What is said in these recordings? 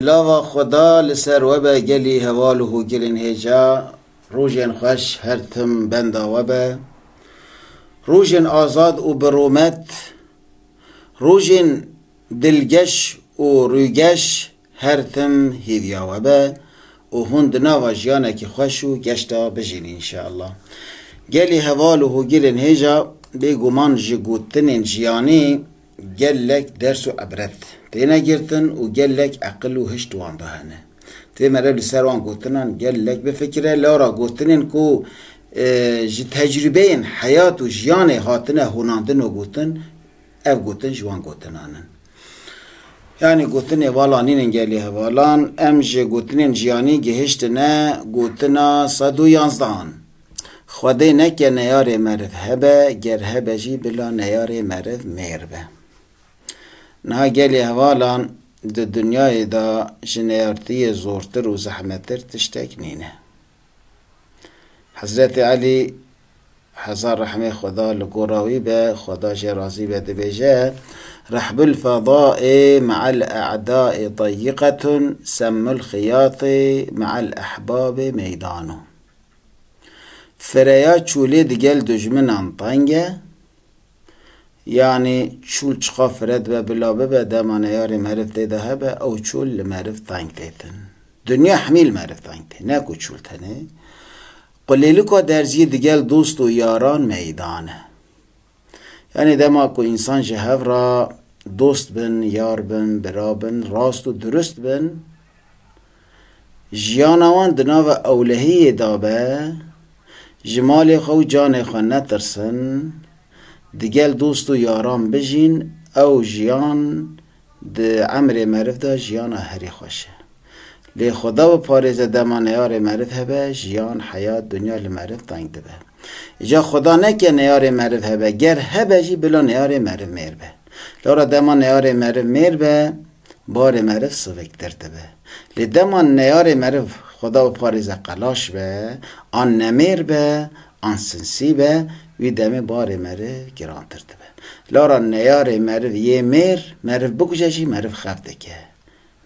Lava xwe da li ser we be gelî heval û hûgirên hêja Rojên xweş her tim benda we be Rojên azad û bi rûmet Rojên dilgeş û rûgeş her tim hêviya we be û hûn di nava jiyanekî xweş û geş de bijîn înşeallah Gelî heval û hûgirên hêja bêguman ji gotinên jiyanî Gelek ders û ibret têne girtin û gelek eqil û hişt wan de hene. Tê mere li ser wan gotinan gelek bifikire, lara gotinên ku ji tecrûbeyên heyat û jiyanê hatine hûnandin û gotin, ev gotin ji wan gotinan in. Yanî gotinê vala nîn in gelê hevalan, em ji gotinên jiyanî gihiştine gotina sed û yanzdehan. Xwedê neke neyarê meriv hebe, ger hebe jî bila neyarê meriv mêr be. Niha gelê hevalan di dinyayê de ji neyartiyê zortir û zehmettir tiştek nîne. Hezretê Elî hezar rehmê Xweda li gora wî be, Xweda jê razî be dibêje, Rehbul fedaê me'el e'daê dayiqetun, semmul xiyatê me'el ehbabê meydan o. Fireya çûlê digel dujminan teng e. Yanî çûl çiqa fire dibe bila bibe dema neyarê meriv tê de hebe ew çûl li meriv teng tê din. Dinya hemî li meriv teng tê ne ku çûl tenê. Qulêlika derziyê digel dost û yaran meydan e. Yanî dema ku însan ji hev re dost bin, yar bin, bira bin, rast û dirust bin, jiyana wan di nava ewlehiyê de be, ji malê xwe û canê xwe netirsin, digel dost û yaran bijîn, ew jiyan Di emrê meriv de jiyana herî xweş e. Lê Xweda biparêze dema neyarê meriv hebe, jiyan, heyat, dinya li meriv teng dibe. Îcar Xweda neke neyarê meriv hebe, ger hebe jî bila neyarê meriv mêr be. Lewra dema neyarê meriv mêr be, barê meriv siviktir dibe. Lê dema neyarê meriv, Xweda biparêze, qelaş be an nemêr be, Ansînsîbe wî demê barê meri girantir dibe. Lara neyarê meriv yê mêr, meriv bikuje jî meriv xev dike.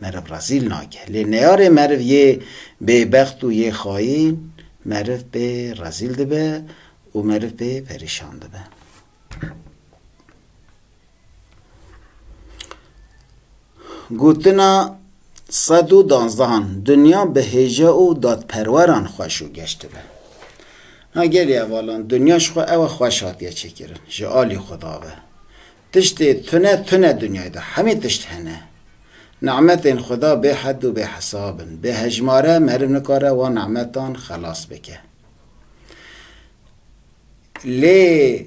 Meriv rezîl nake. Lê neyarê meriv yê bêbext û yê xayîn meriv pê rezîl dibe û meriv pê perîşan dibe. Gotina sed û danzdehan dinya bi hêja û dadperweran xweş û geş dibe. Na gelê hevalan dinya ji xwe ewe xweş hatiye çêkirin ji alî Xweda ve. Tiştê tune tune dinyayê de hemî tişt hene. Nemetên Xweda bê hed û bê hesab in. Bê hejmare meriv nikare wan nemetan xelas bike. Lê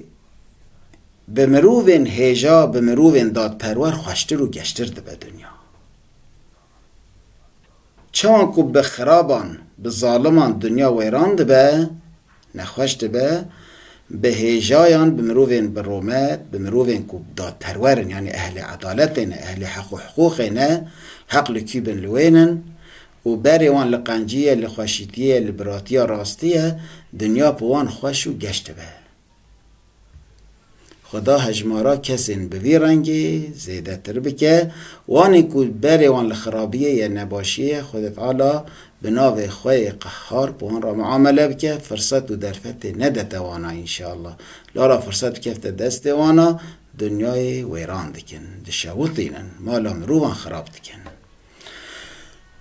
bi mirovên hêja, bi mirovên dadperwer xweştir û geştir dibe dinya. Çawan ku bi xiraban, bi zaliman dinya wêran dibe, nexweş dibe, bi hêjayan, bi mirovên bi romet, bi mirovên ku dadperwer in, yanî ehlê edaletê ne, ehlê heq û hiqûqê ne, heq li kûbin li wê nin, Û berê wan li qenciyê, li xweşikiyê, li biratiya rastî ye, dinya bi wan xweş û geş dibe. Xuda hejmara kesên bi vî rengê zêdetir bike, wanê ku berê wan li xirabiyê ye, nebaşiyê ye, Xwedê Teala bi navê xwe yê qehhar bi wan re miamele bike, firset û derfetê nedete wana înşeallah. Lara firset kefte destê wan a, dinyayê wêran dikin, dişewitînin, mala mirovan xirab dikin.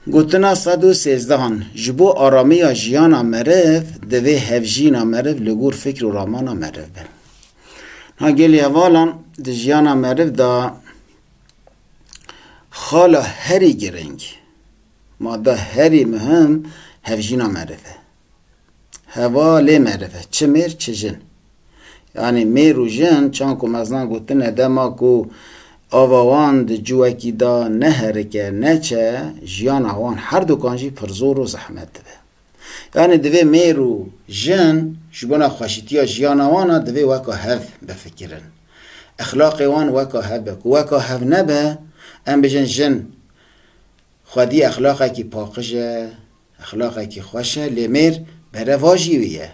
Gotina sed û sêzdehan, ji bo aramiya jiyana meriv divê hevjiyîna meriv li gor fikr û ramana meriv be. Niha gelê hevalan di jiyana meriv de xala herî girîng, madde herî muhim hevjiyîna meriv e. Heva lê meriv e, çi mêr çi jin. Yanî mêr û jin çan ku meznan gotine dema ku ava wan di cûwekî de neherike, neçe, jiyana wan herdukan jî pirzor û zehmet dibe. Yanî divê mêr û jin ji bona xweşitiya jiyana wan a divê weka hev bifikirin. Exlaqê wan weka hev be. Ku weka hev nebe, em bijin jin, Xwedî exlaqekî paqij e, exlaqekî xweş e lê mêr berevajî wî ye.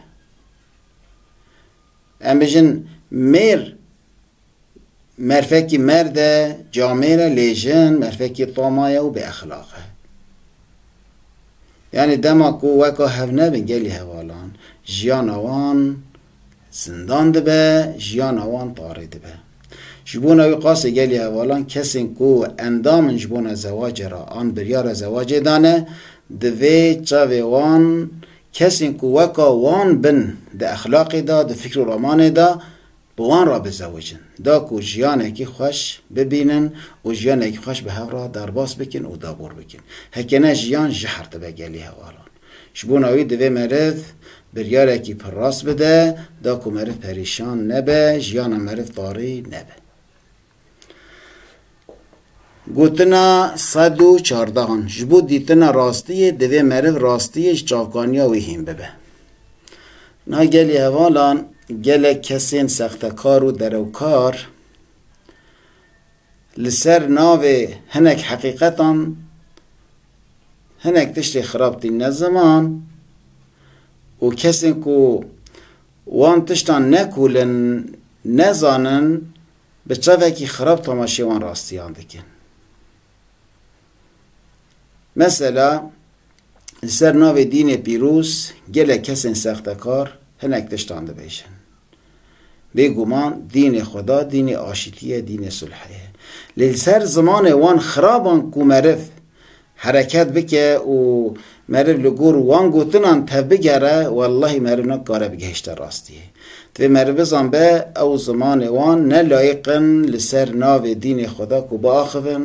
Em bijin mêr merfekî merd e, camêr e lê jin merfekî tama ye û bêexlaq e. Yanî dema ku weka hev nebin gelî hevalan, jiyana wan Zindan dibe, jiyana wan parê dibe. Ji bona wî qasê gelê hevalan kesên ku endam in ji bona zewacê re an biryara zewacê dane, divê çavê wan kesên ku weka wan bin di exlaqê de, di fikr û ramanê de bi wan re bizewicin. Da ku jiyanekî xweş bibînin û jiyanekî xweş bi hev re derbas bikin û dabûr bikin. Heke ne jiyan jehar dibe gelê hevalan. Ji bona wî divê meriv biryarekî pir rast bide, da ku meriv perîşan nebe, jiyana meriv tarî nebe. Gotina sed û çardeh an, Ji bo dîtina rastiyê divê meriv rastiyê ji çavkaniya wî hîn bibe. Niha gelê hevalan gelek kesên sextekar û derewkar, Li ser navê hinek heqîqetan hinek tiştê xirab tîn ne ziman û kesên ku wan tiştan nekulin, nezanin bi çavekî xirab tamaşê wan rastiyan dikin. Mesela, li ser navê dînê pîroz gelek kesên sextekar hinek tiştan dibêjin. Bêguman dînê Xweda dînê aşîtî ye, dînê sulhê ye. Lê li ser zimanê wan xiraban ku meriv hereket bike û meriv li gor wan gotinan tevbigere, wellahî meriv nikare bigihîşte rastiyê. Divê meriv bizanbe ew zimanê wan ne layiq in li ser navê dînê Xweda ku biaxivin,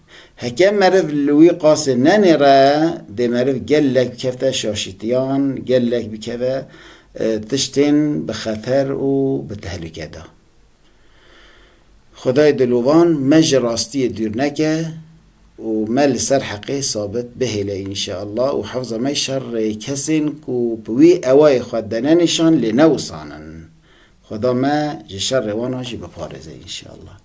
Heke meriv li wî qasê nenêre, dê meriv gelek bikevte şaşîtiyan, gelek bikeve tiştên bi xeter û bi tehlike de. Xwedayê dilovan me ji rastiyê dûr neke û me li ser heqê sabit bihêle înşeallah û hewza me şerê kesên ku bi wî ewayê xwe dene nîşan lê newisanin. Xweda me ji şerê wan a jî biparêze înşeallah.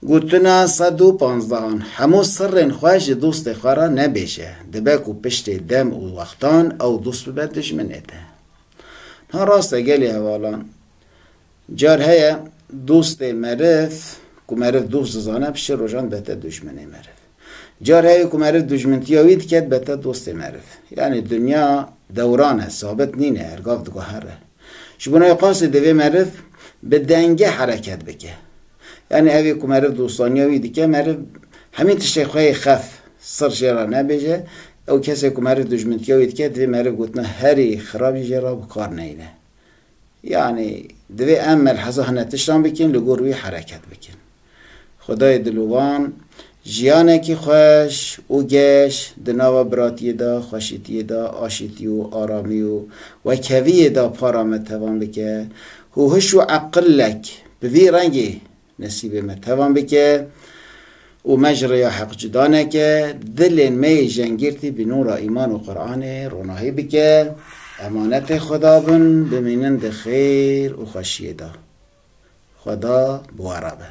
Gotina sed û panzdeh an hemû sirrên xwe ji dostê xwe re nebêje, dibe ku piştê dem û wextan ew dost bibe dijminê te. Niha rast e gelê hevalan, car heye dostê meriv ku meriv dost dizane piştê rojan dibete dijminê meriv. Car heye ku meriv dûjmintiya wî diket bete dostê meriv. Yanî dinya dewran e, sabit nîne, her gav diguhere. Ji bo navê qasê divê meriv bi dengê hereket bike. Yanî evê ku meriv dostaniya wî dike, meriv hemî tiştê xwe yê xef, sir jê re nebêje. Ew kesê ku meriv dûjmintiya wî dike, divê meriv gotina herî xirab jî jê re bi kar neyne. Yanî divê em melheza hene tiştan bikin li gor wî hereket bikin. Xwedayê dilovan jiyanekî xweş û geş di nava biratiyê de, xweşîtiyê de, aşîtî û aramî û wekheviyê de para me tevan bike û hiş û eqilek bi vî rengê Nesîbê me tevan bike û me ji rêya heq cuda neke, dilên me yê jengîrtî bi nûra îman û Quranê ronahî bike, emanetê Xweda bin, bimînin di xêr û xweşiyê de. Xweda bi we re be.